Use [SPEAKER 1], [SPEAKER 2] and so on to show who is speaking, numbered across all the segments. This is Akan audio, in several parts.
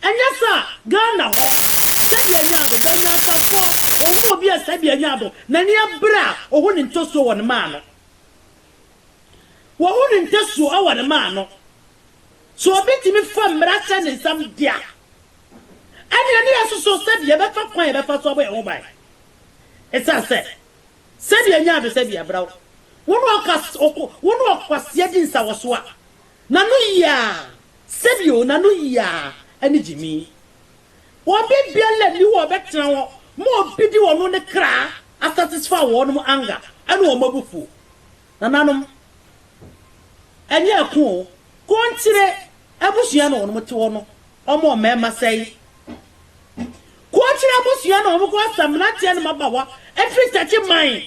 [SPEAKER 1] Ɛnyɛ sa a, Ghana hɔ, sɛdeɛ ɛnyaa do, bɛ nyansafɔɔ, ohu obi a sɛdeɛ ɛnyaa do, n'ani abere a, ohu ne ntɔsuo wɔ ne mã ano. Wɔhu ne ntɔsuo ɛwɔ ne mã ano. Sɛ obi tumi fa mmara hyɛ ne nsam de a, ɛneɛ ne yɛsoso sɛdeɛ yɛbɛfa kwan a yɛbɛfa so abɔ yɛn ho ban. Esiane sɛ, sɛdeɛ ɛnyaa do, sɛdeɛ ɛbra wo, wo ne ɔka, ɔko, wo ne ɔkwaseɛ di nsawɔsoɔ a, N'ano yiaa, sɛbio, n'ano yiaa, ɛne gyimi. Wɔn bɛ biala nni hɔ a ɔbɛtena hɔ ma obi de wɔn ne kra asatisfy wɔnom anger ɛne wɔn abufuo. Nananom, ɛnyɛ ɛko o, Konkyire abusua na wɔnom te hɔ no, wɔn wɔ mmarima sɛi. Konkyire abusua na wɔn kɔ sa mmeranteɛ ne mmabaawa firi Takye man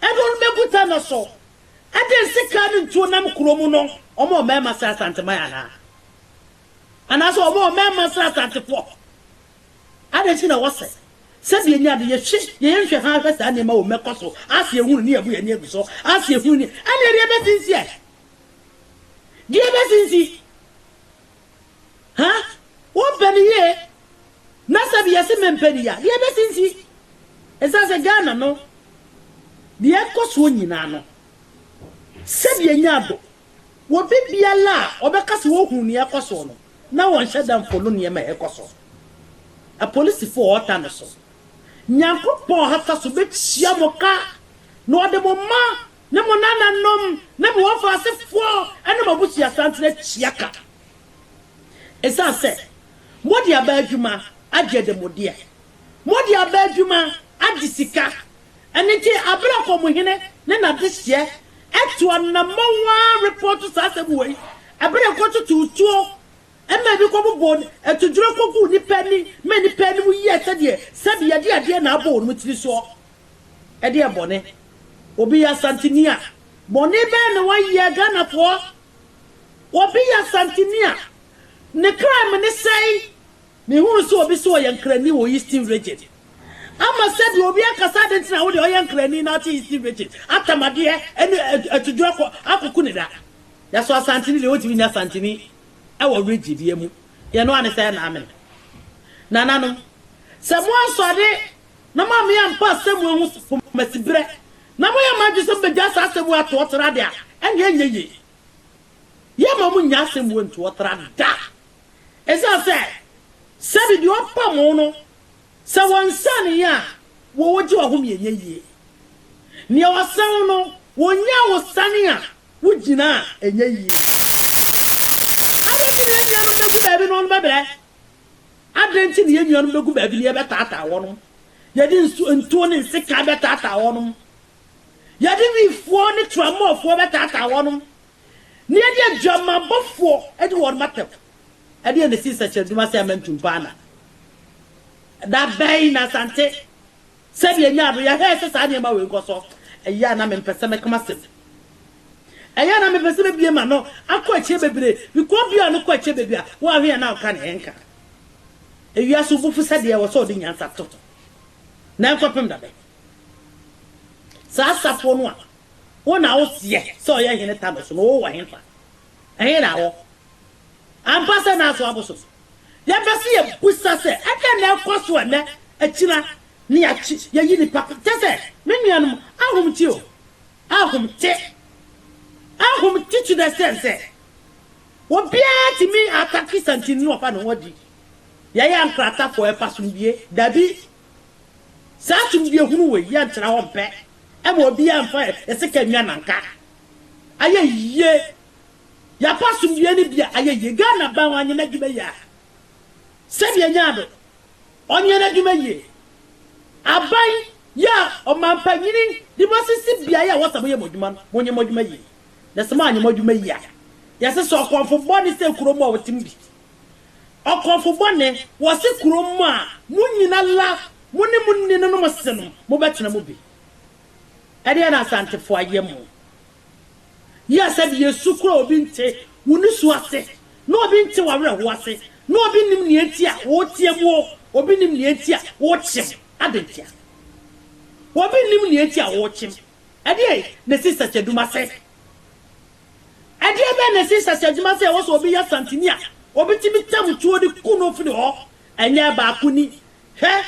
[SPEAKER 1] ɛne wɔnom bɛgu ta no so Adɛn sekaa no ntuo nam kuro mu no ɔmo wɔ mɛɛma srɛ asanteman ahaa anaasɛ ɔmo wɔ mɛɛma srɛ asantefoɔ adɛn nti na wɔsɛ sɛ deɛ nya de yɛhwɛ yɛyɛ nhwɛ haa hwɛ saa nneɛma wɔ mɛkɔ so ase ehunu ne yɛbu yɛn ani agu so ase ehunu ne ɛne deɛ bɛsi nsi ɛ deɛ bɛsi nsi. Ha? Wompɛ no yie? Na sɛ deɛ se mempɛ no yie a, deɛ bɛsi nsi? Ɛsiane sɛ Ghana no, deɛ ɛkɔ soɔ nyinaa no, sɛdeɛ ɛnyɛ ado, obi biara a ɔbɛka sɛ ɔhunu deɛ ɛkɔ soɔ no, na ɔnhyɛ da mfolo nneɛma a ɛkɔ soɔ. Apolisifoɔ a ɔta no so, Nyankopɔn ha fa so bɛtua mo ka, na ɔde mo ma ne mo nananom ne mo wɔfa asefoɔ ne mo abusua santen atua ka. Ɛsiane sɛ mode aba adwuma agye ademudeɛ, mode aba adwuma agye sika, ɛno nti aberɛ a Kɔmhene ne n'adehyeɛ to anammɔn ara repɔɔto saa asɛm wei, ɛberɛ a ɛkɔtotoo tuo ma ebi kɔbobɔɔ atuduro kɔguu nnipa ani ma nnipa anim yɛɛ sɛdeɛ sɛbi yɛde adeɛ na abɔ wɔn tiri soɔ. Ɛdeɛ bɔne? Obi yɛ Asanteni a. Bɔne bɛn na wayɛ Ghanafoɔ? Obi yɛ Asanteni a, ne kra mene sɛn? Mehunu sɛ obi se ɔyɛ Nkrani wɔ Eastern Region. Ama sɛdeɛ obi akasa adeɛ nti na wodeɛ ɔyɛ Nkrani na wote Eastern Region? Atamadeɛ ne atuduro kɔ akɔku ne da. Yɛso Asanteni deɛ wontumi nyɛ Asanteni wɔ Region biara mu. Yɛn noa ne sɛ ɛna amene. Nananom, sɛ moansɔre na moammeyɛ ammpa asɛmua ho so pomasiberɛ, na moyɛ moadwene sɛ mobɛgyaa saa asɛmua atoɔtra de a, ɛnneɛ ɛnyɛ yie. Yɛremma mo nnyaa asɛmua ntoɔtra da, ɛsiane sɛ, sɛdeɛ deɛ ɔpa mo no, sɛ wɔnsaneeɛ a, wɔ wɔgye w'ahome ɛnyɛ yie. Deɛ wɔsane wo no, wɔnyaa wo sane a wogyina a, ɛnyɛ yie. Adɛn nti na yɛn nuanom bɛgu baabi na wɔbɛbrɛ, Adɛn nti na yɛn nuanom bɛgu baabi na yɛbɛtaataa wɔnom? Yɛde nsu, ntuo ne nsekan bɛtaataa wɔnom. Yɛde wifoɔ ne tramɔfoɔ bɛtaataa wɔnom, na yɛde adwamanbɔfoɔ adi wɔnom atɛm. Ɛdeɛn na ɛsii nsɛkyerɛnne dwuma sɛ ɛmɛntum paa na? Da bɛn na Asante. Sɛdeɛ ɛnyaa berɛ yɛhwɛɛ sɛ saa nneɛma wei nkɔ so, ɛyɛ a na mempɛ sɛ mɛka m'asɛm. Ɛyɛ a na mepɛ sɛ mebue m'ano akɔ akyire bebree, because bue ano kɔ akyire baabi a woanhwɛ yɛ na woka nea ɛnka. Ewiase wo bo fu sɛdeɛ ɛwɔ sɛ wode nyansa to ho. Na ɛnkɔpem da bɛn? Saa safoɔ no a wo na woseɛ sɛ ɔyɛ hene Thanos no, wowɔ henfa? Ɛhe na awɔ? Ampa sɛ n'aso abo so. Yɛpɛ sɛ yɛbisa sɛ, ɛdeɛn na ɛrekɔ so ɛnnɛ, akyina, ne akye, yɛyi nipa, kyɛ sɛ, me nuanom, ahom te o, ahom te, ahom te to the extent sɛ, obiara tumi atake santini no ɔfa ne ho adi, yɛyɛ ankratafoɔ, yɛpɛ asomdwie, dabi, saa asomdwie hunu wei, yɛntra hɔ mpɛ, ɛma obiara mfa yɛn sika nnwa nanka, Ayɛ yie. Yɛapɛ asomdwoeɛ no bi a, ayɛ yie. Ghana bɛn ɔnyɛ n'adwuma yie a? Sɛdeɛ ɛnyɛ ado, ɔnyɛ n'adwuma yie. Aban yi a ɔmampanyini de mo asisi beaeɛ a ɛwɔ sɛ moyɛ mo adwuma no, monyɛ mo adwuma yie. Na sɛ moanyɛ mo adwuma yie a, yɛse sɛ ɔkɔmfo bɔne sɛ kuro mu a wɔte mu bi. Ɔkɔmfo bɔne, wɔse kuro mu a, mo nyina la, mo ne mo nninom se no, mobɛtena mu bi. Ɛdeɛn na Asantefoɔ ayɛ mo? Yɛ sɛ deɛ yɛsu koraa a obi nte wo nusu ase, na obi nte w'awerɛhoɔ ase, na obi nnim nea enti a woteam oo, obi nnim nea enti a wokyem. Adɛn ntia? Obi nnim nea enti a wokyem. Ɛdeɛn na ɛsi research adwuma sɛ? Ɛdeɛbɛn na ɛsi research adwuma sɛ ɛwɔ sɛ obi yɛ Asanteni a, obetumi tam tuo de ku no firi hɔ? Ɛnyɛ baako ni, Hwɛ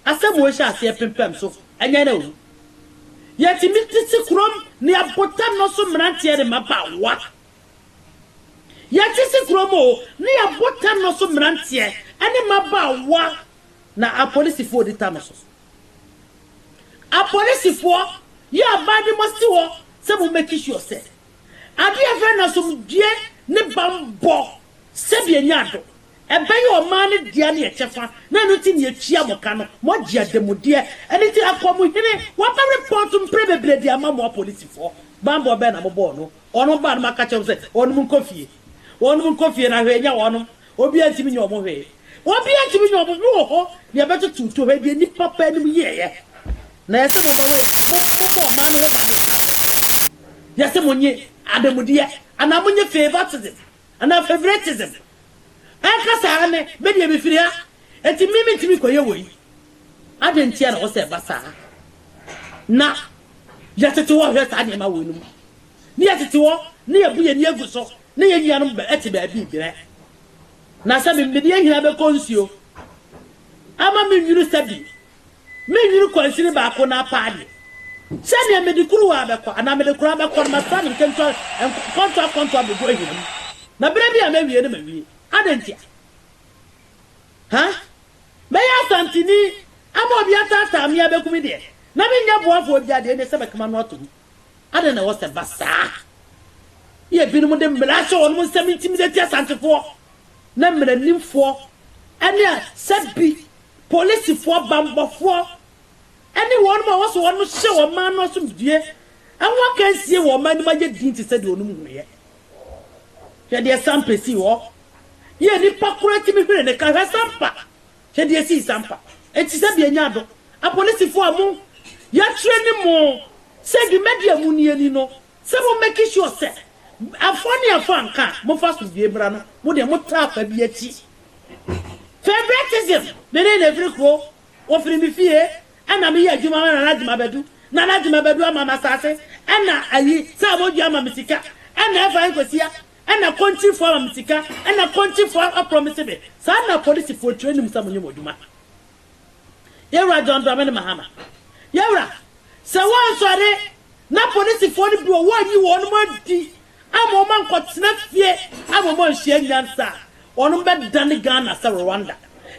[SPEAKER 1] asɛm wei hyɛ aseɛ pempam so ɛnyɛ na owu. Yɛtumi te se kurom ne abotan no so mmeranteɛ ne mmabaawa. Yɛte se kurom o ne abotan no so mmeranteɛ ɛne mmabaawa na apolisifoɔ di ta no so. Apolisifoɔ yɛ aban de mo si hɔ sɛ mo make sure sɛ adeɛ yɛfrɛ no asomdwoeɛ ne bammɔ sɛdeɛ nya ado. Ɛbɛyɛ ɔman no dea ne ɛkyɛfa, na ɛno nti na yɛtua mo ka no, moagye ademudeɛ, ɛno nti ɛkɔ mo hene, waba report mprɛ bebree de ama mo apolisifoɔ, banbɔ bɛn na mobɔɔ no? Wɔnom baa no ma ka kyerɛɛ wɔn sɛ wɔnom nkɔ fie, wɔnom nkɔ fie na hwee nyɛ wɔnom, obiara ntumi nyɛ wɔn hwee, obiara ntumi nyɛ wɔn, wowɔ hɔ na yɛbɛtoto to hɔ, deɛ nnipa baanum yɛeɛ na yɛse momma wei, mobɔ ɔman no ho ban ne saa asɛm yi, yɛse monye ademudeɛ anaa monye favoritism, Anaa favoritism. Ɛka saa ara ne, me deɛ mefiri ha, enti me mentumi nkɔyɛ wei. Adɛn ntia na ɛwɔ sɛ ɛba saa? Na yɛtete hɔ hwɛ saa nneɛma wei no mu. Ne yɛtete hɔ ne yɛbu yɛn ani agu so ne yɛn nuanom te baabi rebrɛ. Na sɛ me mede ahina bɛkɔ nsuo ama me nwunu sɛ bi Mennwene kwansini baako no apaa deɛ sɛdeɛ mede kuruwa abɛkɔ anaa mede koraa bɛkɔ no, mɛfa no nkentewa nkɔntoa nkɔntoa abɛgu ahina mu, na berɛ bi a mɛwie no mawie. Adɛn ntia? Ha? Mɛyɛ Asanteni ama obi ataataa me abɛku me deɛ, na mennya boafoɔ biara deɛ, ɛnneɛ sɛ mɛka m'ano ato mu. Adɛn na ɛwɔ sɛ ɛba saa? Ne ebinom de mmara ahyɛ wɔn nsam intimidate Asantefoɔ, na mmaranimfoɔ ne a sɛ bi Polisifoɔ, bammɔfoɔ, ne wɔnom a wɔsɔ wɔnom hyɛ ɔman no asomdwoeɛ ho akansie wɔ ɔman no mu ayɛ dinn te sɛ deɛ wɔnom hunuiɛ. Hwɛ deɛ Sampa sii hɔ. Yɛ nipa koraa tumi hwene ne ka. Hwɛ Sampa. Hwɛ deɛ esii Sampa. Enti sɛ deɛ nya do. Apolisifoɔ a mo, yɛatraini mo sɛ dwumadie a monni ani no, Sɛ mo make sure sɛ afoa ne afoa nka a mofa asomdwoe mmra no mo deɛ mo tra afa bi akyi. Favouritism me ne no firi kuro ɔfiri me fie ɛna me yɛ adwuma ma Nana Gyimabadu Nana Gyimabadu ama me asaase ɛna ayi sɛ abodwoa ama me sika ɛna FI Nkwasia ɛna Kontirifoɔ ama me sika ɛna Kontirifoɔ a promise me saa na apolisifoɔ tire nim sɛ mo nyɛ mo adwuma. Yawura John Dramani Mahama, Yawura, sɛ wɔnsɔre na polisifoɔ no bi wɔ hɔ a wɔnyi wɔn adi ama wɔn ankɔtena fie ama wɔn anhyia nyansa a, wɔn bɛdane Ghana sɛ Rwanda.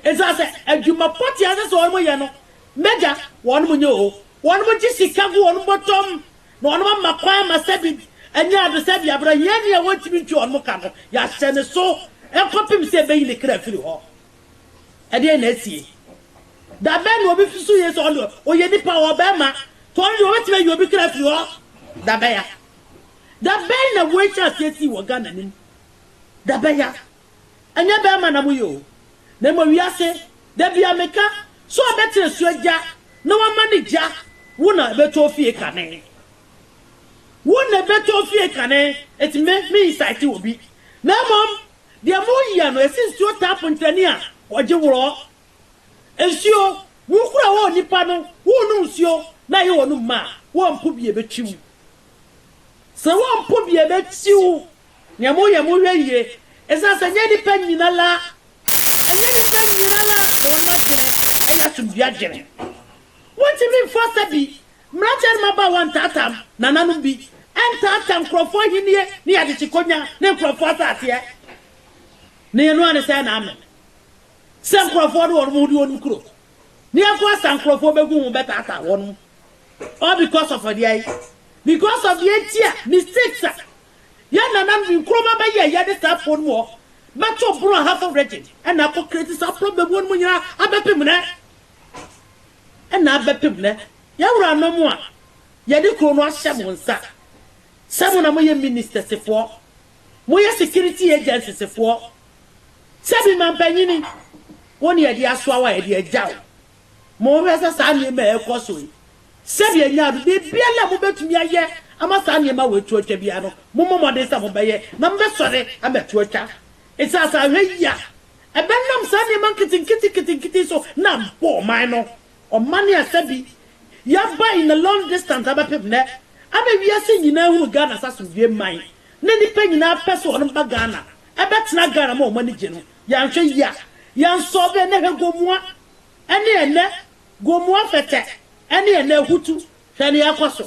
[SPEAKER 1] Ɛsiane sɛ adwuma pɔtee a ɛsɛ sɛ wɔn yɛ no, m'agya, wɔn nyɛ oo, wɔn gye sika gu wɔn bɔtɔm na wɔn ama kwan ama sɛbi anya ade sɛ biabra hiani a wɔntumi ntua wɔn ka no, yɛahyɛ ne so kɔpem sɛ ɛbɛyi ne kra afiri hɔ. Ɛdeɛn na asie? Da bɛn na obi susu yie sɛ ɔno deɛ ɔyɛ nipa, ɔwɔ barima, nti ɔno deɛ ɔbɛtumi ayi obi kra afiri hɔ? Da bɛya. Da bɛn na wei hyɛɛ aseɛ sii wɔ Ghana anim? Da bɛya. Ɛnyɛ barima na moyɛ o, na mmom wiase. Da biara meka sɛ ɔbɛtena asuo gya na wama ne gya, wo na ɛbɛtɔ wo fie kane. Wo na ɛbɛtɔ wo fie kane, nti me, me incite obi, na mmom Deɛ moreyɛ no, ɛsi nsuo taa pontani a wɔgye worɔ. Nsuo, wo koro a wɔwɔ nnipa no, worenom nsuo na ɛyɛ wɔn mma a, wɔmpo bi a ɛbɛtwi wo. Sɛ wɔmpo bi a ɛbɛtwi wo. Deɛ moreyɛ, monhwɛ yie, ɛsiane sɛ ɛnyɛ nnipa nyina la, ɛnyɛ nnipa nyina la na wɔn adwene yɛ asomdwoeɛ adwene. Wɔntumi mfa sɛ bi Mmeranteɛ ne mmabaawa ntaataam nananom bi, ɛntaataa nkurɔfoɔ ahennie ne yɛn adekyekonya ne nkurɔfoɔ asaaseɛ. Na yɛn nua ne sɛɛ na ame sɛ nkurɔfoɔ de wɔnom ho di wɔnom kuro ne ɛko asa nkurɔfoɔ bɛgu ho bɛtaataa wɔnom all because of deɛ yi because of deɛ nti a mistakes a yɛn nananom bi nkurɔma bɛyɛ yɛde saa afoɔ no mu hɔ bɛto borɔ ahafo region ɛna akɔ create saa problem wɔnom nyinaa abɛpem nɛ na abɛpem nnɛ, yɛn wuranom a yɛde kuro no ahyɛ mo nsa, sɛ mo na moyɛ ministɛsefoɔ, moyɛ security agencysefoɔ, sɛ bi mampanyini, wo ne yɛde asoa wo a yɛde agya wo. Monhwɛ sɛ saa nneɛma a ɛrekɔ so yi, sɛdeɛ nyaa no, biribiara a mobɛtumi ayɛ ama saa nneɛma wei to atwa biara no, mommɔ mmɔden sɛ mobɛyɛ na mobɛsɔre abɛto atwa. Ɛsiane sɛ ahwɛ yie a Ɛbɛnam saa nneɛma nketenketenketenkete yi so na abɔ ɔman no. Ɔman yi asɛ bi. Yɛaba in a long distance abɛpem nnɛ. Ama wiase nyinaa ahunu Ghana sɛ asomdwoeɛ man. Na nnipa nyinaa pɛ sɛ wɔn ba Ghana. Ɛbɛtena Ghana ma wɔn ani gye no. Yɛanhwɛ yie a, yɛnsɔɔve ɛnnɛ hwɛ Gomoa ne ɛnnɛ, Gomoa Fɛtɛ ne ɛnnɛ Ahutu. Hwɛ nea ɛrekɔ so.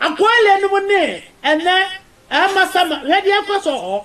[SPEAKER 1] Akoile nom ne ɛnnɛ Amasama. Hwɛ deɛ ɛrekɔ so wɔ hɔ.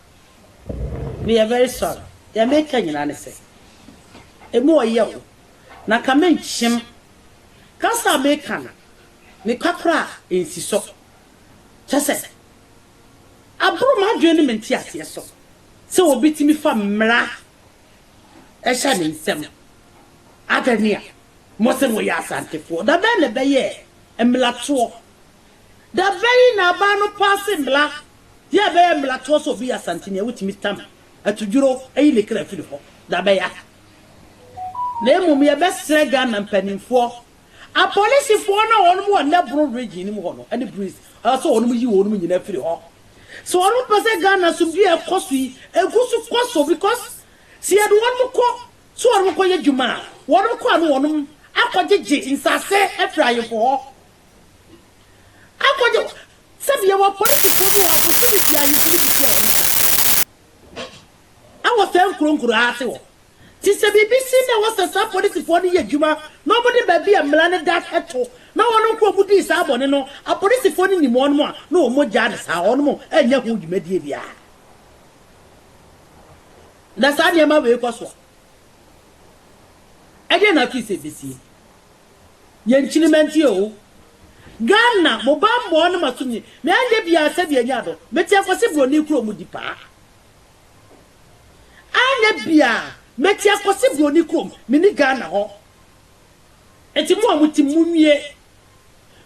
[SPEAKER 1] Meyɛ very sorry. Deɛ meka nyinaa ne sɛ, ɛmu ɔyɛ o, na nka menkyem. Kasa a meka no, mekwa koraa ɛnsi so. Kyerɛ sɛ, aboro m'adwene ne me nteaseɛ so sɛ obi tumi fa mmara hyɛ ne nsam. Adɛn a mose moyɛ Asantefoɔ? Da bɛn na ɛbɛyɛɛ mmeratoɔ? Da bɛn na abaa no paase mmla deɛ ɛbɛyɛ mmlatoɔ sɛ obi yɛ asanteni a wotumi tam atudwuro ayi ne kra afiri hɔ? Da bɛya. Na mmom yɛbɛsrɛ Ghana mpaninfoɔ, apolisifoɔ no a wɔnom wɔ Nnɛboro Region no mu hɔ no ɛne Breeze ɛwɔ sɛ wɔnom yi wɔnom nyinaa firi hɔ. Sɛ wɔnom pɛ sɛ Ghana asomdwie a ɛkɔ so yi ɛgu so kɔ so because sɛ yɛde wɔnom kɔ sɛ wɔnom kɔ yɛ dwuma a wɔnom kɔ a no wɔnom akɔ gyegye nsaase afiri ayefo hɔ Akɔgye wo. Sɛbi yɛwɔ apolisifoɔ bi wɔ ha, bosome biara ahemfo no bɛtua wɔn ka. Ɛwɔ saa nkuro nkuro ha ase hɔ. Nti sɛ biribi si na ɛwɔ sɛ saa apolisifoɔ no yɛ adwuma na wɔde baabi a mmara no da to na wɔn nko wɔn dii saa bɔne no, apolisifoɔ no nim wɔn a, na wɔn gyaa no saa. Wɔn nnyɛ ho dwumadie biara. Na saa nneɛma wei kɔ so a, ɛdeɛn na afei sɛ ɛbɛsie? Yɛn kyinima nti oo. Ghana mo banbɔɔ no ma so nye me anyɛ biaa sɛdeɛ ɛnyɛ adɔ me teɛ kɔse broni kuro mu di paa anyɛ biaa me teɛ kɔse broni kuro mu me ni Ghana hɔ nti mo a mo tim mo nwie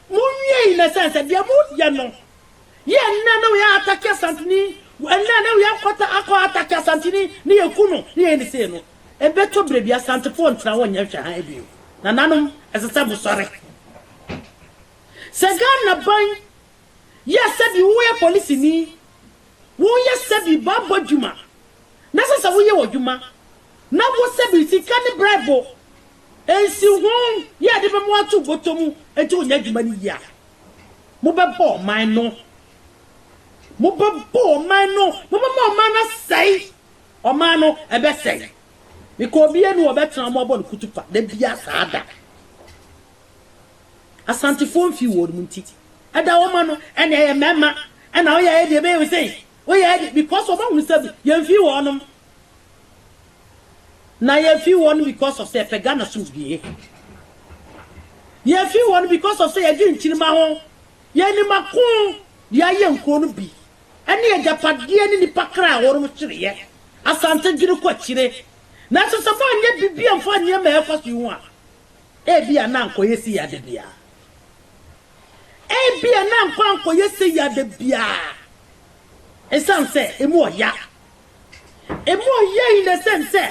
[SPEAKER 1] mo nwie in a sense sɛ deɛ mo yɛ no Yɛ ɛnnɛ na wei atake Asanteni, ɛnnɛ na wei akɔta akɔ atake Asanteni na yɛku no na yɛyɛ ne sei no, ɛbɛtɔ berɛ bi Asantefoɔ ntena hɔ nyɛ nhwɛ hann bio. Nananom, ɛsɛ sɛ mosɔre. Sɛ Ghana ban yɛ sɛbi woyɛ polisini, woyɛ sɛbi bɔabɔ adwuma na ɛsɛ sɛ woyɛ w'adwuma na wo sɛbi sika ne braibo nsi ho yɛ ɛde bɛma woato bɔtɔ mu nti wonyɛ adwuma no yie a, Mobɛbɔ ɔman no. Mobɛbɔ ɔman no. Mobɛma ɔman no asɛe. Ɔman no, ɛbɛsɛe. Meka obia ni wɔbɛtena wɔn abɔ no kutupa da bia saa da. Asantefoɔ mfii wɔn mu nti. Ɛda wɔn ma no, ɛna ɛyɛ mɛma. Ɛna woyɛ ayɛ deɛ ɛbɛyɛ wo sei. Woyɛ ayɛ deɛ, because wɔbɛhunu sɛ yɛmfii wɔnom. Na yɛfii hɔ no because of sɛ yɛpɛ Ghana sumdue. Yɛfii hɔ no because of sɛ yɛgye nkyirimma ho. Yɛn nim ako de ayɛ nkuro no bi ne agyapadeɛ ne nnipa kra a wɔnom hyereɛ. Asante dwene kɔ akyire. Nanso sɛ moanyɛ biribi amfa nneɛma a ɛkɔ so yi ho a, ebia na ankɔyɛ sei ada biara. Ebia na ankɔ ankɔyɛ sei ada biara. Ɛsiane sɛ emu ɔya. Emu ɔyɛ yi na ɛsɛn sɛ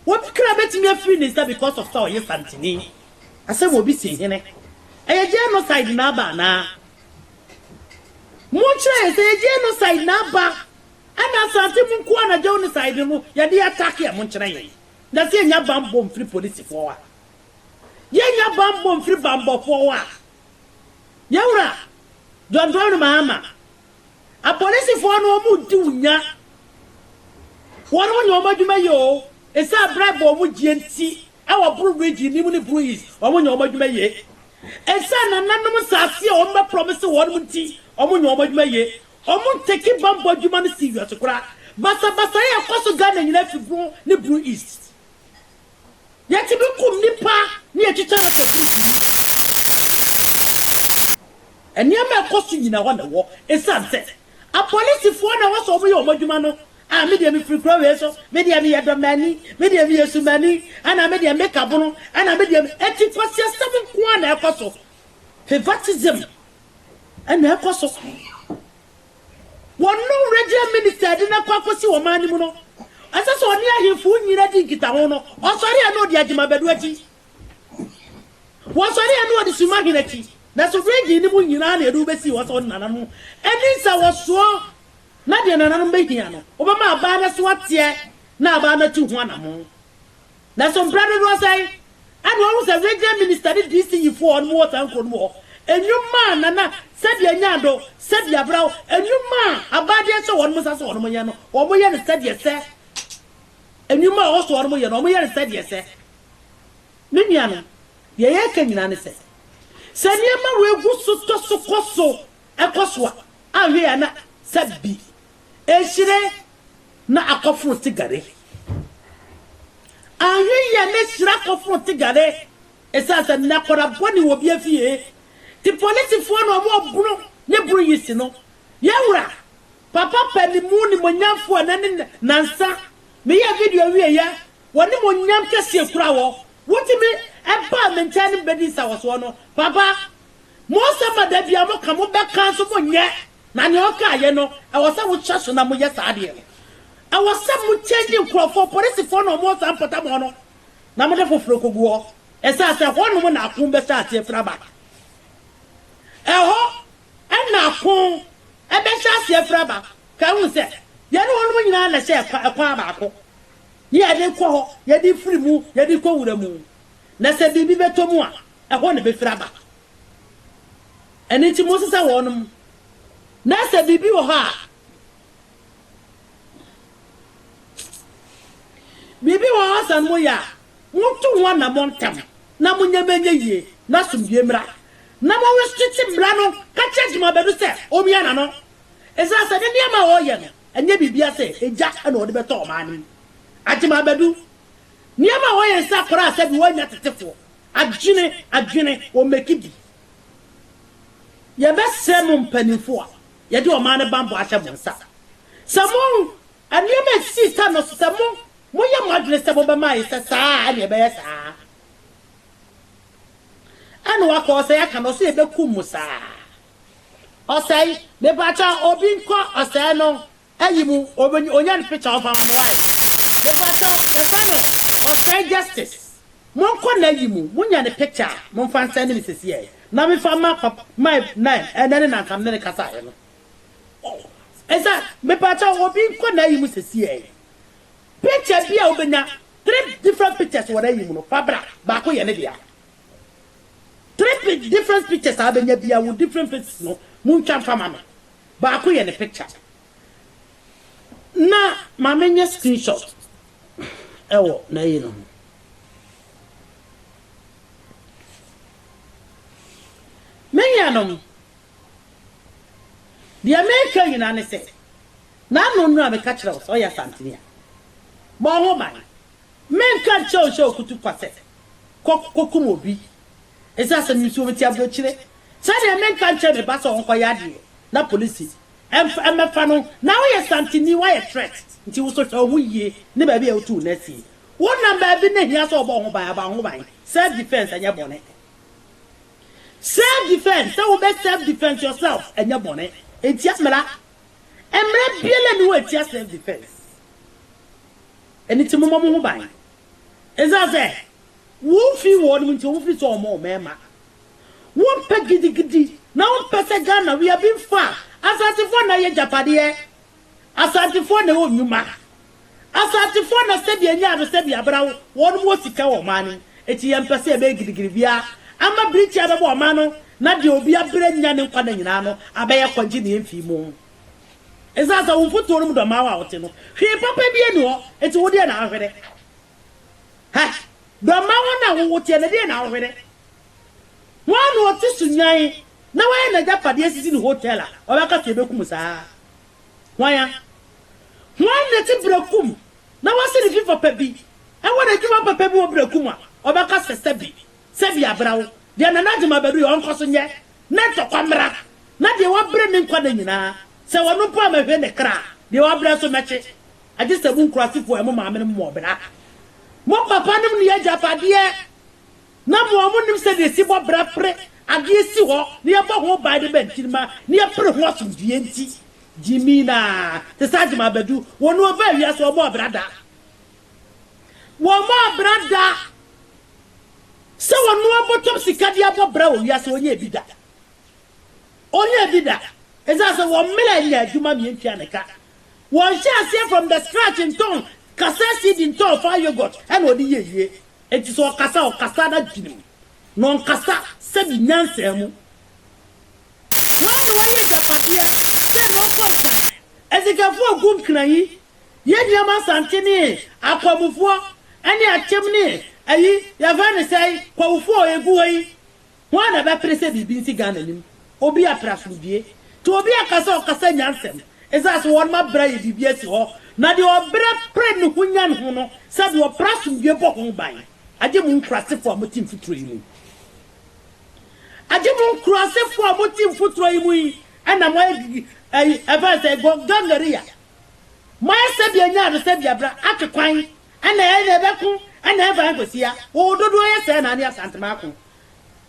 [SPEAKER 1] obi kra betumi afiri ne nsa because of sɛ ɔyɛ santini. Asɛm obi se hene ɛyɛ genocide na aba anaa? Mo nkyerɛ yɛn sɛ ɛyɛ genocide na aba ɛna asante mu nkoa na genocide no yɛde attack ɛ mo nkyerɛ yɛn na sɛ yɛnya banbɔ mfiri polisifoɔ a? Yɛnya banbɔ mfiri banbɔfoɔ a? Yɛn wura John Dramani Mahama Apolisifoɔ no wɔn redi wo nya. Wɔn mo nyɛ wɔn adwuma yie oo. Ɛsiane bribe a wɔn gyeɛ nti ɛwɔ Bru region no mu ne Bru East wɔn nyɛ wɔn adwuma yie. Ɛsiane nananom nsaase a wɔn bɛ promise wɔn mo nti wɔn nyɛ wɔn adwuma yie. Wɔn take bammɔ adwuma no si wiase koraa. Basabasayɛ a ɛkɔ so Ghana nyinaa firi Bru ne Bru East. Yɛtumi kum nnipa na yɛtwitwa no kafirifiri. Nneɛma a ɛkɔ so nyinaa hɔ na ɛwɔ esiane sɛ apolisifoɔ na ɛwɔ sɛ wɔyɛ wɔn adwuma no. Ah, me deɛ mefiri kuro wei so, me deɛ meyɛ Dɔmani, me deɛ meyɛ Sumani, ɛna me deɛ me Kabono, ɛna me deɛ me. Enti nkwasiasɛm nko ara na ɛkɔ so. Favoritism na ɛkɔ so. Wɔn no Regent Minister de no akɔ akɔsi ɔman no mu no, ɛsɛ sɛ ɔne ahemfo nyina di nkitaho no, ɔsɔre a na ɔdi Agyemabadu akyi, wɔsɔre a na ɔdi Sumahen akyi, nanso Regent no mu nyina na yɛde wo bɛsii hɔ sɛ ɔne nananom ani nsawɔsoɔ, na deɛ nananom bɛhia no, ɔbɛma abaa no so ateɛ na abaa no atu ho anamon. Nanso mprɛ dodoɔ sɛn a na wahu sɛ Region Minister ne DC yifoɔ a wɔn wɔ saa nkuro no mu hɔ nnwuma a Nana Sɛdeɛ Nyado, Sɛdeɛ Abraw, nnwuma a abaadeɛ hyɛ wɔn nsa sɛ wɔn nyɛ no, wɔn yɛ no sɛdeɛ sɛ nnwuma a ɛwɔ so wɔn yɛ no, wɔn yɛ no sɛdeɛ sɛ. Me nuanom, deɛ yɛreka nyinaa ne sɛ, sɛ nneɛma wei gu so tɔ so kɔ so kɔ so a, anhwɛ yi a na sɛ bi rehyire. na akɔforo tigare. Anhwɛ yie a na ahyira akɔforo tigare ɛsiane sɛ na akwadaa bɔne wɔ obi afie nti polisifoɔ na wɔreboro ne boro yi si no. Yɛn Wura, Papa Panimu Nimuonyamfoɔ ɛnɛ ne nansa, meyɛɛ video wieeɛ, w'animuonyam kɛseɛ kura wo, wotumi baa me nkyɛn ne me bɛdii nsawɔsoɔ no, Papa, mo nsɛm a da biara moka, mobɛka nso monyɛ, Na nea ɔkaeɛ no, ɛwɔ sɛ wohyɛ so na moyɛ saa adeɛ no. Ɛwɔ sɛ mo kyɛngyi nkurɔfoɔ, polisifoɔ na wɔn wɔ saa mpɔtamɔ no, na mode foforɔ kɔgu hɔ. Ɛsiane sɛ ɛhɔ nom na ako bɛhyɛ aseɛ firi aba. Ɛhɔ na ako bɛhyɛ aseɛ firi aba. Kae hu sɛ, yɛne wɔn nom nyinaa na ɛhyɛ ɛkwan baako, ne yɛde rekɔ hɔ, yɛde refiri mu, yɛde rekɔ wura mu. Na sɛ biribi bɛtɔ mu a, ɛhɔ na ɛbɛfiri aba. Ɛno nti monsesa wɔnom, na sɛ biribi wɔ hɔ a, biribi wɔ hɔ sɛ moyɛ a, monto ho anammɔn ntɛm, na mo nneɛma nyɛ yie, na asomdwoe mmra. Na monwesete mmara no, ka kyerɛ adwumabɛ no sɛ ɔmmia n'ano, esiane sɛ ne nneɛma a ɔreyɛ no, ɛnyɛ biribiara sɛ egya na ɔde bɛtɔ ɔman no mu. Agyemabadu, nneɛma a wɔyɛ nsa koraa sɛdeɛ wɔannya tetefoɔ, Adwene, adwene, wɔ meki bi. Yɛbɛsɛɛ mo mpaninfo a yɛde ɔman no banbɔ ahyɛ mo nsa. Sɛ mo, nneɛma a ɛsisii sa no so, sɛ mo, moyɛ mo adwene sɛ mobɛma ayɛ sɛ saa a, ɛnneɛ ɛbɛyɛ saa. Ɛnna wakɔ ɔsɛe aka no, ɔse yɛbɛkum mo saa. Ɔsɛe, mepakyɛw, obi nkɔ ɔsɛe no Ayi mu obe onya ne picture ɔmfa ma me wae mepakyɛw yɛfrɛ no ɔsɛe justice monkɔ nayi mu monya ne picture a momfa nsɛnde me sesiɛ na mefa mma pa my nan ɛnɛ ne na nka mene no kasaeɛ no ɛsa mepakyɛw obi nkɔ nayi mu sesiɛ picture bi a wobɛnya three different pictures wɔ nayi mu no fa bra baako yɛ ne dea three different pictures a wobɛnya bia wɔ different faces no montwa mfa ma me Baako yɛ ne picture na maame nyɛ screen shot ɛwɔ n'ayi no ho. Me nuanom, deɛ meka nyinaa ne sɛ, Nano Nnuru a meka kyerɛ wo sɛ ɔyɛ Asanteni a, bɔ wo ho ban. Menka nkyerɛ wo nhyɛ wo kutu kwa sɛ kɔ kɔkum obi Ese asem yi nso obeti abrokyire sɛdeɛ menka nkyerɛ me ba sɛ ɔnkɔyɛ adeɛ na polisi mf mmɛfa no na woyɛ santini woayɛ threat nti woso hwɛ woho yie ne baabi a wotu wo nan sie wonam baabi na hia sɛ wobɔ woho ban a bɔ woho ban self defence ɛnyɛ bɔne self defence sɛ wobɛ self defence yourself ɛnyɛ bɔne ɛntia mmara mmara biala ni hɔ ɛtia self defence ɛniti momɔ moho ban ɛsiane sɛ Womfii wɔnom nti ɔmo firi sɛ ɔmo mmarima wompɛ gidigidi na wompɛ sɛ Ghana we are being far asantefoɔ na yɛ gyapadeɛ asantefoɔ na ɛwɔ nnwuma asantefoɔ na sɛdeɛ ɛnyɛ ado sɛdeɛ abra wo wɔnom wɔ sika wɔ ɔman no ɛti yɛmpɛ sɛ yɛbɛyɛ gidigidi biara ama birikyi abɛbɔ ɔman no na deɛ obi abrɛ nya ne nkwa na nyinaa no abɛyɛ kwa nti na yɛmfii mu ɛsan sɛ wo mfotuo no mu dɔ maa wo a wote no hwee papa biara ni hɔ ɛti wo deɛ na ahwere Hɛ! Dɔ mma wɔn a wowo teɛ, na ɛdeɛn na wohwere? Hwan na ɔte so nyan na wayɛ n'agyapadeɛ asisi no hotel a ɔbɛka to ɛbɛkum saa? Hwan a? Hwan na ɛte berakum na wasi ne fi fapa bi wɔ n'adwuma papa bi wɔ berakum a ɔbɛka sɛ sɛbi, sɛbi abera wo, deɛ Nana Agyeman abɛduru yɛ ɔnkɔ so nyɛ na ntɔkwa mmra, na deɛ wabrɛ ne nkwa nna nyinaa, sɛ ɔno mpo a mɛhwe ne kra, deɛ wabrɛ nso mɛkye. Agye sɛ mo nkuraasefo a mo maamenom mmɔɔ bra. Mo papanom nni agyapadeɛ, na mo a monim sɛdeɛ yɛsi bɔ bra pere adeɛ si hɔ na yɛbɔ ho ban de ba nkyirimma na yɛpere ho asomdwoeɛ nti, Jimina, te sɛ Agyeman Badu, wɔn na wɔbaa wiase, wɔmmɔɔ bra da. Wɔmmɔɔ bra da sɛ wɔnoa bɔtɔm sika de abɔ bra wɔ wiase, wɔnyɛɛ bi da. Wɔnyɛɛ bi da. Ɛsiane sɛ wɔmmrɛ nyɛ adwuma mmientua ne ka. Wɔnhyɛ aseɛ from the scratch ntɔn kaseɛ CD ntɔɔ faa yoghurt ɛna ɔde yɛ wie enti sɛ ɔkasa ɔkasa n'adwene mu na ɔnkasa sɛbi nyansaa mu hwan na wayɛ agyapadeɛ sɛ na ɔkɔ nkran asikafoɔ agu nkran yi yɛ nneɛma asante ne akwamufoɔ ɛne akyem ne ayi yɛfrɛ ne sɛi kwawofoɔ egu hɔ yi. Hwan na ɛbɛpere sɛ biribi nsi Ghana nim? Obi apere asomdwie? Te obi aka sɛ ɔkasa nya nsɛm. Ɛsɛ sɛ wɔnom abrɛ ayɛ biribi asi hɔ, na deɛ ɔbrɛ pere ne ho nya ne ho no, sɛdeɛ ɔpere asomdwie bɔ ho ban. Agye mo nkurasefoɔ a mote mfuturo yi mu. Agye mo nkurasefoɔ a mote mfuturo yi mu yi na moayɛ gigi, ayi, ɛfɛn sɛ go, gangaria. Moayɛ sɛdeɛ nya ado, sɛdeɛ abira, atwe kwan, ɛna ɛna ɛbɛko, ɛna ɛmfa ɛnkɔsia. Wɔwɔ dodoɔ yɛ sɛɛ na ane Asantemaako.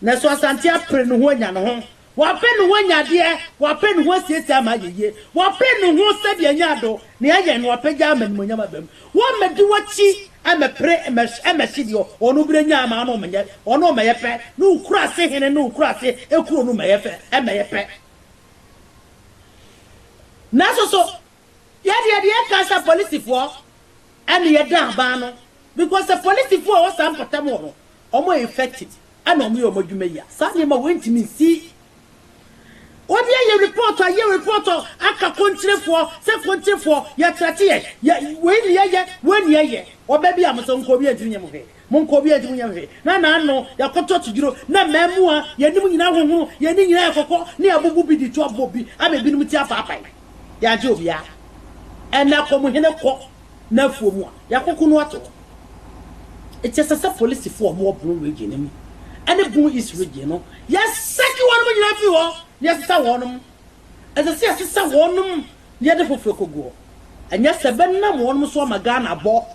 [SPEAKER 1] Nanso Asante apere ne ho anya ne ho. Wapere ne ho anya adeɛ. Wapere ne ho asiesie ama ayɛ yie. Wapere ne ho sɛdeɛ anya ado na ayɛ no apagya ama animuonyam aba mu. Wɔmmɛdi w'akyi mmɛpere mmɛhye deɛ ɔno berɛ nya ama ɔno mmɛyɛ ɔno mmɛyɛ pɛ ne wo kuraase hene ne wo kuraase kuro no mmɛyɛ fɛ mmɛyɛ pɛ. Nanso so Yɛ deɛ deɛ ɛka sɛ polisifoɔ ɛna yɛ da aban no because sɛ polisifoɔ a ɛwɔ saa mpɔtam hɔ no wɔn yɛ effective ɛna wɔn yɛ wɔn adwuma yi a saa nneɛma wei ntumi nsi. Obi ayɛ report ayɛ report aka kontirefoɔ sɛ kontirefoɔ yɛ threat yɛn yɛ wei na yɛyɛ wei na yɛyɛ ɔbɛ bi a mo sɛ nkɔ obi ntumi nyɛ mo hwee Monkɔ obiara nti monyɛ hwee. Na n'ano yɛ kɔtɔ todwiro, na mmaamua, yɛn anim nyinaa hohoro, yɛn ani nyinaa yɛ kɔkɔ, na yɛabubu bi de tu abɔ bi ama ebinom ti afaapae. Yɛagye obiara. Ɛnna kɔ mo hene kɔ n'afuo mu a yɛakoko no ato hɔ. Enti ɛsɛ sɛ polisifo a wɔwɔ Bono Region no mu ne Bono East Region no, yɛsɛke wɔn nyinaa fi hɔ na yɛsesa wɔnom. Ɛsɛ sɛ yɛsesa wɔnom na yɛde foforo kogu hɔ. Anyɛ saa ɛbɛnam wɔnom so ama Ghana abɔ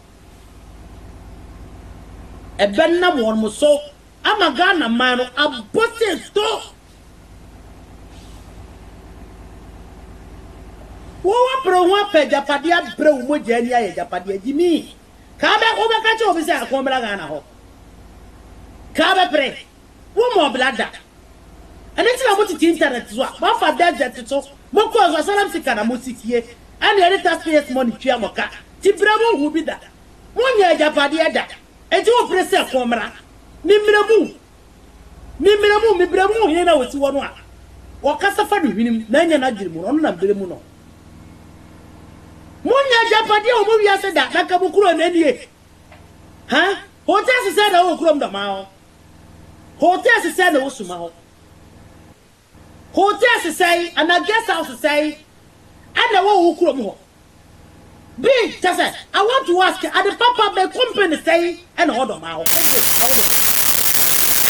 [SPEAKER 1] Ɛbɛnam wɔn so ama Ghana man no abɔ seeso. Wo wapere wo ho apɛ agyapadeɛ abrɛ wo mogya ani ayɛ agyapadeɛ agye me. Kaa bɛ wobɛka kyerɛ obi sɛ akɔn mmra Ghana hɔ? Kaa bɛpere? Wɔmmɔɔ bra da. Ɛno nti na motete internet so a moafa desert so mokɔɔ so asylum seeker na mosi fie ɛna yɛde taxpayers money tua mo ka nti bra mu nhu bi da. Monyɛ agyapadeɛ da nti wopere sɛ ko mmra me mmrɛ mu me mmrɛ mu me brɛ mu hene na ɔsi hɔ no a ɔkasa fa no hwenem na anya n'adwene mu no ɔno na mbrɛ mu no. Monyɛ agyapadeɛ wɔ mo wiase da na nka mo kuro na nie ha hotel sesɛɛ na wɔ kurom dɔmaa hɔ. Hotel sesɛe na ɛwɔ suma hɔ. Hotel sesɛe anaa guest house sesɛe ɛna ɛwɔ wo kurom hɔ. Bi kyɛ sɛ I want to ask ade papa bɛn company sɛe ɛna ɛwɔ dɔmaa hɔ ɛde ɛwɔ dɔmaa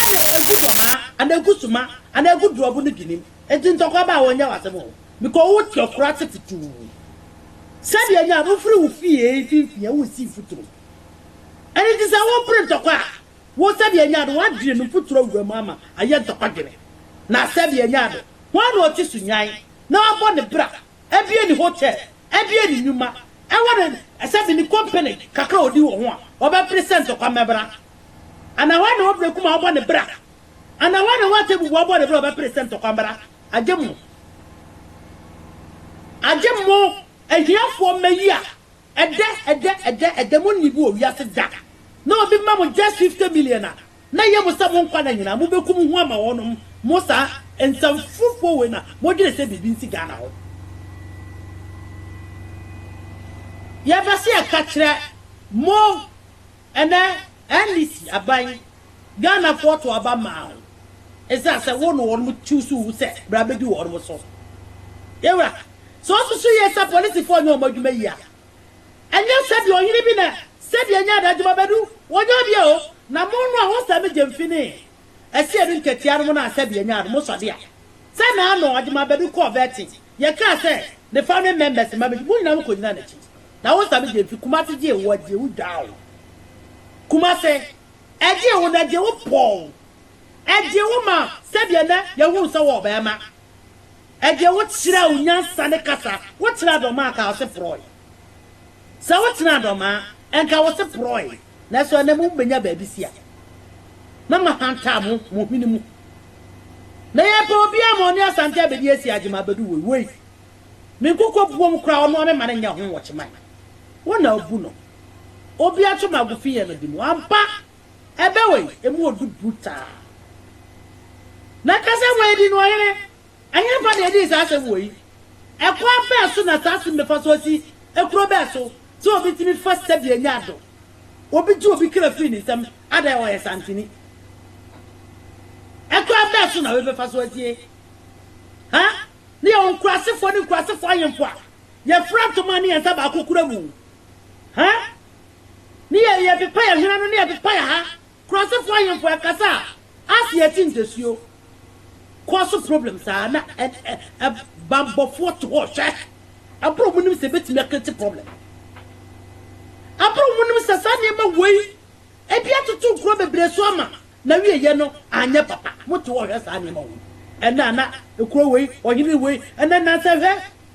[SPEAKER 1] ɛna ɛgu dɔmaa anaa ɛgu suma anaa ɛgu duabu no binim nti ntɔkwa baa wɔnyɛ w'asɛm o because wo te ɔkoro ase futuu sɛdeɛ ɛnyɛ a wofiri wo fie mfimfini a wonsi mfuturo ɛno nti sɛ wopere ntɔkwa a Wo sɛ deɛ ɛnyɛ ade, woadwene me mfuturo awura mu ama ayɛ ntɔkwadwene. Na sɛ deɛ ɛnyɛ ade, hwan na ɔte so nyan na wabɔ ne bra, abue ne hotel, abue ne nnwuma, ɛwɔ ne sɛ de ne kompene kakra a ɔdi wɔ ho a ɔbɛpere sɛ ntɔkwa mmɛbra? Anaa hwan na wabue kuma abɔ ne bra? Anaa hwan na wate abubu abɔ ne bra a ɔbɛpere sɛ ntɔkwa mmra? Agye mo! Agye mo, ahiafoɔ mma yi a Ɛdɛ, ɛdɛ, ɛdɛ, ɛdɛ, mo nni bi wɔ wiase da. Na obi ma mo just fifty million a, na ɛyɛ mo sɛ mo nkwa nna nyinaa mo bɛku mo ho ama wɔnom, mo saa nsɛmforofoɔ wei na mo dwene sɛ biribi nsi Ghana hɔ. Yɛbɛ sɛ yɛka kyerɛ mo ɛnɛ NDC aban, Ghanafoɔ to aba maa wo ɛsiane sɛ wo ne wɔnom choose wo sɛ bra bɛdi wɔnom so. Yɛwura, sɛ wosusu yie sɛ polisifoɔ nyɛ wɔn adwuma yie a, ɛnyɛ sɛdeɛ ɔhene bi na sɛdeɛ ɛnyɛ adadwuma bɛdu wɔnyɛ obi a o, na mono a wosɛ me gyemfi ne asia no ntɛtea no ho no a sɛdeɛ nyaa no, mosɔ de a. Sɛ na ano ɔde ma bɛdu kɔɔ Bɛɛten, yɛkaa sɛ ne fa ne mɛmɛse ma medi, mo nyinaa mo kɔnyinaa n'akyi. Na wo nsa no gyee mfi Kumase gyee wo agyee wo dwaa wo Kumase ɛgyee wo no agyee wo pɔɔ wo agyee wo ma sɛdeɛ nɛ yɛhunu sɛ wɔ ɔbɛɛma agyee wo kyerɛɛ wo nyansa ne kasa wo kyerɛɛ dɔmaa kaa ɔse porɔɔe. Sɛ wotsenaa dɔm a, nka wo se porɔe, naaso ana mubenya beebi si a? Na mahantar mo mo hwen mu. Na yɛrepɛ obiara ma ɔne Asante abedi esi agye ma abedu woi woi. Me nkokɔ buom koraa ɔnoa me ma no nyɛ ho wɔkye man. Wo na abu no. Obi atwe magofi yɛ no de mu. Ampa! Ɛbɛ woi, emu odu brutal. Na kasa wei di no ɔhene. Ɛhefa na yedii saa asɛm wɔ yi? Ɛkwan bɛn so na saa asem bɛfa so asi kuro bɛn so sɛ obi tumi fa sika bi anya ado? Obi gye obi kra firi ne nsam ada a ɔyɛ santini. Ɛkwan bɛn so na wei bɛfa so asie? Ha ne yɛwɔ nkurasefoɔ ne nkurasefoɔ ahemfo a yɛfra ntoma ne yɛn nsa baako kura mu. Ha ne yɛ yɛpepa yɛn hwene ano ne yɛpepa yɛn ha Kurasefo ahemfo ɛkasa a ase ɛte ntasuo kɔ so problem saa na banbɔfoɔ to hɔ hwɛ abere ɔmo nim sɛ ebetumi akreti problem abere ɔmo nim sɛ saa nneɛma wei ebi atoto nkuro bebree so ama na wie yɛ no anyɛ papa mo to hɔ hwɛ saa nneɛma wei ɛnɛ ana ekuro wei ɔhene wei ɛnɛ nansa hwɛ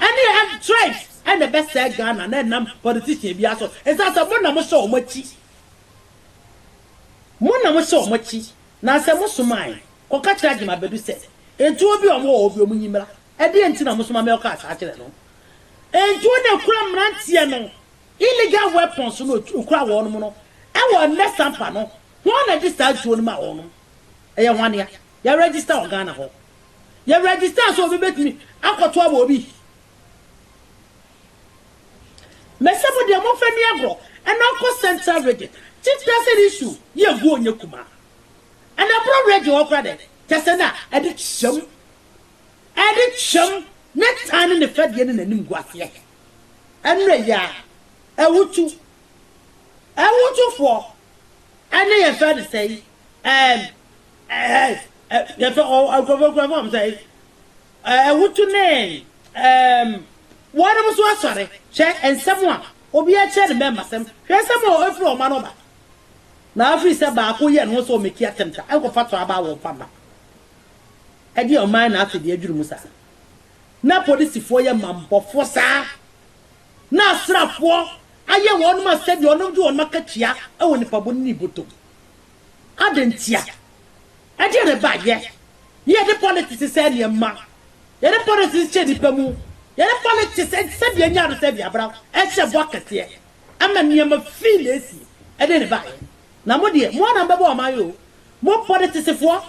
[SPEAKER 1] Ɛne hɛ tribes na ɛbɛsɛɛ Ghana na ɛnam politician biara so. Ɛsan sɛ mo na mo hyɛ wɔn akyi. Mo na mo hyɛ wɔn akyi. Nansɛ mo somae kɔ ka kyerɛ Agyem Abadu sɛ ntuo bi a wɔn wɔ hɔ bi wɔn nyi mmra. Ɛdeɛn nti na mo soma me ɔkaa saa kyerɛ no? Ntuo na ɛkura mmeranteɛ no illegal weapons no ɛkura wɔnom no ɛwɔ nnɛ sampa no. Hwan na ɛde saa ntuo no maa wɔnom? Ɛyɛ hwan dea? Yɛ register wɔ Ghana hɔ. Yɛ register sɛ obi bɛtumi akɔto ama obi. Mese mo deɛ momfa ni agorɔ ɛna ɔkɔ central region kyi tase ne su yɛ gu ɔnyɛ kumaa ɛna ɛboro region hɔ kora dɛn tase na ɛde kyɛm ɛde kyɛm ne tan ne ne fɛdeɛ ne n'anim gu aseɛ ɛnɛ yɛ a ɛwotu ɛwotufoɔ ɛne yɛn fɛ ne sɛi ɛɛm ɛɛɛs ɛ yɛfɛ ɔ nkurɔfoɔ kura fɔm sɛ ɛɛ wotu ne ɛɛm wɔnom nso asɔre hwɛ nsɛm a obi akyerɛ ne mɛma sɛm hwɛ nsɛm a ɛfiri ɔma no ba na afiri sɛ baako yɛ ne ho sɛ ɔmɛki atɛmta ɛnkɔfa tɔ aba wɔmfa mma ɛdeɛ ɔman na afei deɛ adwiri mu saa na polisifoɔ yɛ mammɔfoɔ saa na asrafoɔ ayɛ wɔnom asɛdeɛ ɔnom de wɔnom akatua ɛwɔ nipa bɔ ne botom Adɛn ntia? Ɛdeɛn na ɛba yɛ? Ne yɛde politics sɛɛ nneɛma. Yɛde politics kyɛ nnipa mu. Yɛde politics sɛdeɛ ɛnya ado sɛdeɛ abra ɛhyɛ bɔ kɛseɛ. Ɛma nneɛma fii na ɛsie. Ɛdeɛn na ɛba yɛ? Na mo deɛ, mo ara na mobɛbɔ ɔman yi o. Mo politicsfoɔ,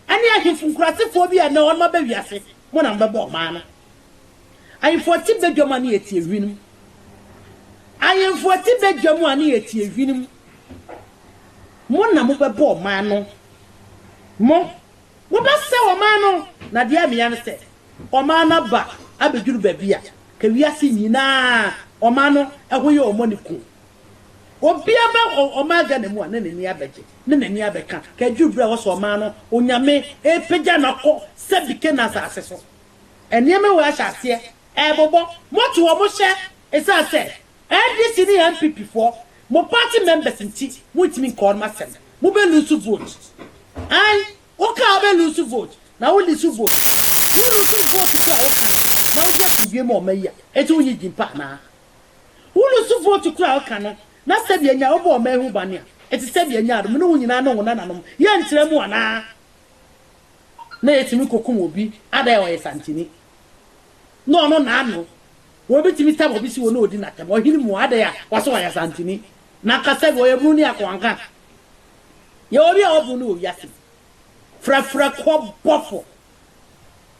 [SPEAKER 1] Ɛne ahemfo nkuratsefoɔ bi a nna ɔnom aba wiase mu na mbɛbɔ ɔman no. Ahemfo tse badwa mu a ne yɛ tsie hwin mu. Ahemfo tse badwa mu a ne yɛ tsie hwin mu. Mo na mo bɛbɔ ɔman no. Mo, mo bɛsɛw ɔman no. Na deɛ ɛmea ne sɛ, ɔman no aba abɛduru baabi a, ka wiase nyinaa ɔman no ho yɛ ɔmɔ ne ku. Obiara bɛ wɔ ɔman Ghana mu a na n'ani abɛgye, na n'ani abɛka, ka ɛduru berɛ a wɔsɔ ɔman no Onyame repagya no akɔ sɛbi Canaan asase so. Nneɛma wei ahyɛ aseɛ ɛrebobɔ. Mote wɔn hyɛ ɛsiane sɛ NDC ne NPP foɔ, mo party members nti montumi nka wɔn asɛm. Mobɛ loose vote. Ae, wokaa wobɛ loose vote, na wo loose vote. Wo loose vote mpo a woka no, na wode ato dwom ɔma yi a, enti wonye gyimpa anaa? Wo lusu vote koro a woka no na sɛdeɛ nya wobɔ ɔman ho bane a ɛte sɛdeɛ nya no me ne wo nyinaa ne wo nananom yɛ nkyerɛ mu anaa? Na yɛtumi kɔkum obi ada a ɔyɛ santini na ɔno naano wɔ bi tumi tam obi si wɔ na ɔdi natam ɔhene mu ada a wɔse wɔyɛ santini na nka sɛdeɛ ɔyɛ bunu ne akoa nka yɛwɔ bi a wɔbu no wɔ wiase yi frɛfrɛ kɔ bɔfo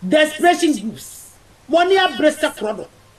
[SPEAKER 1] desperation groups mɔne abere sɛ korɔ do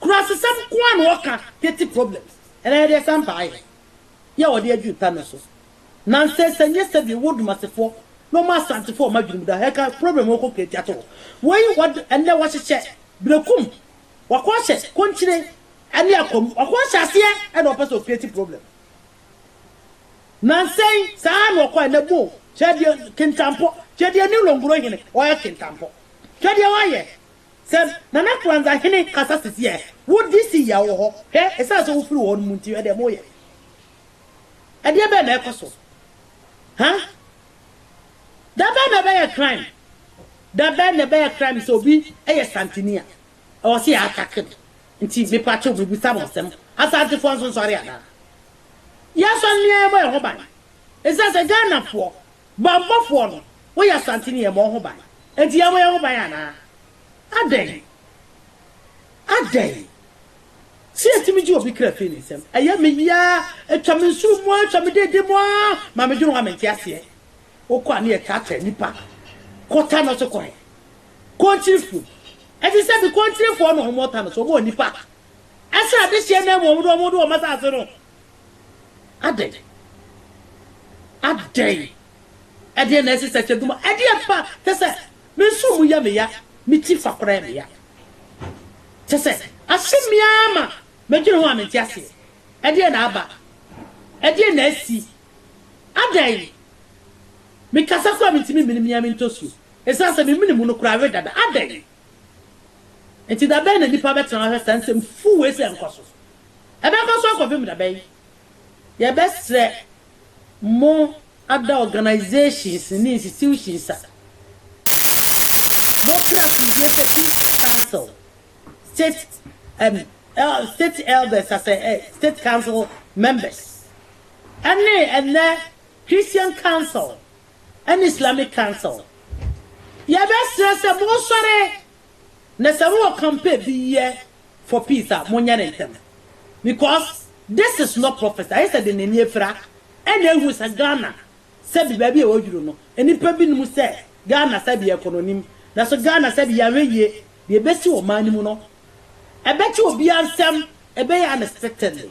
[SPEAKER 1] Kurasesɛm nko ara na ɔka petty problems ɛna yɛde ɛsan baayɛ yɛ ɔde adwiri pa no so nansɛsɛ nyɛ sɛbi wɔ dumasefoɔ na ɔma asantefoɔ ɔma adwiri mu da hɛka problem ɔkɔ kreti ato hɔ wei wad ɛnɛ wahyehyɛ brekum wakɔ ahyɛ konkyire ɛne akwamu wakɔ ahyɛ aseɛ ɛna ɔpɛ sɛ ɔkreti problem nansɛn saa na ɔkɔ ɛnɛ bo kyɛ deɛ kentampɔ kyɛ deɛ ne longoro hene ɔyɛ kentampɔ kyɛ deɛ ɔyɛ Sɛ Nana Kwanzaa hene kasa sisi ɛ, wo DC yi a wowɔ hɔ, hwɛ, ɛsiane sɛ wofiri wɔ hɔ no mu nti, ɛdeɛ moyɛ. Ɛdeɛ bɛn na ɛkɔ so? Ha? Da bɛn na ɛbɛyɛ crime? Da bɛn na ɛbɛyɛ crime sɛ obi yɛ santini a, ɛwɔ sɛ yɛ attack no? Nti mepakyɛw mebisa mo asɛm, Asantefoɔ nsonsɔre anaa? Yɛnsɔre ne yɛmmɔ yɛn ho ban, Esiane sɛ Ghanafoɔ bammɔfoɔ no wɔyɛ Asanteni yɛmmɔ ho ban nti yɛabɔ yɛn ho ban anaa? Adɛn? Adɛn? Sɛ yɛtumi gye obi kra firi ne nsam, ɛyɛ me yea, ɛtwa me nsuo mu ara, ɛtwa me dede mu ara ma medwene ho a mente aseɛ. Wokɔ a ne yɛtaataa nnipa kɔ tano so kɔ he? Kontirefoɔ bi. Ɛte sɛ bi Kontirefoɔ na wɔwɔ tano so, wɔbɔ nnipa srade hyeɛ no amu a wɔde wɔn asaase no. Adɛn? Adɛn? Ɛdeɛn na ɛsesɛ kyɛ duma? Ɛdeɛn pa? Kyɛ sɛ, menso mu yɛ me ya, me ti fa koraa yɛ me ya. Kyɛ sɛ, aso me ara ma medwene ho a mente aseɛ. Ɛdeɛn na aba? Ɛdeɛn na asi? Adɛn? Mekasa koraa mentumi mmene me ara me ntɔsuo, ɛsiane sɛ me mene mu no koraa awe dada. Adɛn? Enti da bɛn na nnipa bɛtena hɔ ahwɛ saa nsɛm fuu wei sɛ ɛnkɔ so? Ɛbɛkɔ so akɔpem da bɛn? Yɛbɛsrɛ mo ada organisations ne institutions a mo kra asomdwie sɛ Peace Council, State and State Elders as a State Council members ɛne ɛnɛ Christian Council ɛne Islamic Council. Yɛbɛsrɛ sɛ monsɔre na sɛ wowɔ campaign bi yɛ for peace a monyɛ no ntɛm because this is not prophecy ayɛ sɛ de nani afira ɛna ahu sɛ Ghana sɛbi baabi a waduru no nnipa bi nim sɛ Ghana sɛbi yɛkɔ no nim nanso Ghana sɛbi yɛanhwɛ yie deɛ ɛbɛsi wɔ ɔman no mu no ɛbɛte obiara nsɛm ɛbɛyɛ unexpectedly.